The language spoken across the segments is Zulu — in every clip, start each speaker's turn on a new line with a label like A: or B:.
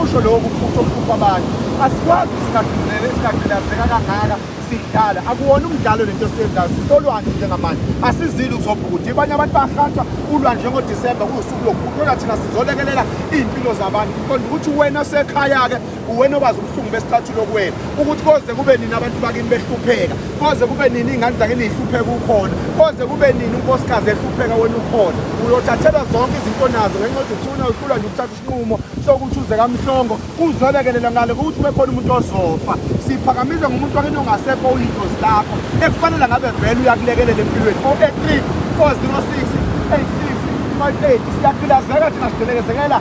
A: kusho lokhu futhi okuhlupha abantu asikwazi singadumele singagqilazeka kangaka sidlala akuwona umdlalo lento esiyenzayo sisolwandle njengamanje asizile ukuzobhukuda ibanye abantu bahatshwa ulwandle njengodisemba kuwusuku lokukhulula thina sizolekelela iy'mpilo zabantu qonda ukuthi wena sekhaya-ke uwena obazi ubuhlungu besicathulo kuwena ukuthi koze kube nini abantu bakini behlupheka koze kube nini iy'ngane zakini yihlupheka ukhona koze kube nini unkosikazi ehlupheka wena ukhona uyothathelwa zonke izinto nazo ngenxa yokuthi uthuna uhlulwa nje ukuthatha isinqumo sokuthi uze kamhlongo kuzolekelela ngale kokuthi ube khona umuntu ozofa siphakamize ngomuntu wakini ongasekho uyintozi lakho ekufanele ngabe vele uyakulekelela empilweni o-e-3 406 86 58 siyaphilazeka thina sidelekezekela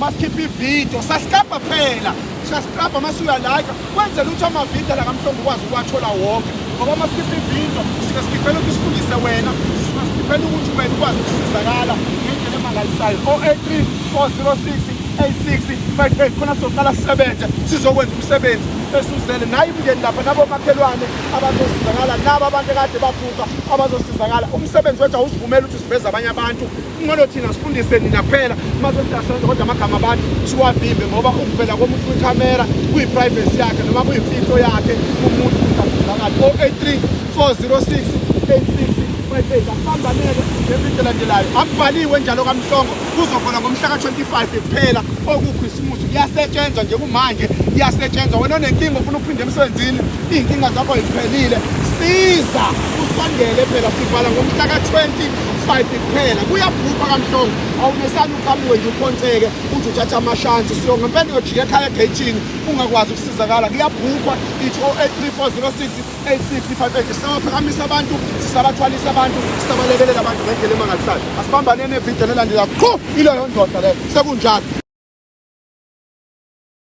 A: masikhiphe ividiyo sascabha phela siyascabha uma suyalika kwenzela ukuthi amavidiyo la kamhlongo ukwazi ukuwathola wonke ngoba uma sikhiphe ividiyo sike sikhiphela ukuthi sifundise wena sikhiphela ukuthi wena ukwazi ukusizakala ngendlela emangalisayo o-83 406 8658 khona sizoqala sisebenze sizokwenza umsebenzi esuzele naye imndeni lapha nabomakhelwane abazosizakala nabo abantu ekade babhuka abazosizakala umsebenzi wethu awusivumeli ukuthi siveze abanye abantu Kumele thina sifundise nina kuphela uma sesiyasenza kodwa amagama abantu siwavimbe ngoba ukuvela komuntu kwikhamera kuyi-privacy yakhe noma kuyimfihlo yakhe umuntu uzafunakali 083 406 86 asambanele nezindelandelayo akubhaliwe njalo kamhlongo kuzokhona ngomhla ka-25 kuphela okukhisimusi kuyasetshenzwa nje kumanje kuyasetshenzwa wena onenkinga ofuna ukuphinde emsebenzini iy'nkinga zakho ziphelile siza usondele phela sivala ngomhla ka-20 Five kuphela kuyabhupha kamhlongo awumesani uqhamuke nje uphonseke uthi uthatha amashansi so ngempela uyojika ekhaya egatini ungakwazi ukusizakala kuyabhupha ithi o 834068658 sisabaphakamisa abantu sisabathwalisa abantu sisabalekelela abantu ngendlela emangalisayo asibambaneni evidiyo nelandelayo qhu ileyo ndoda leyo sekunjalo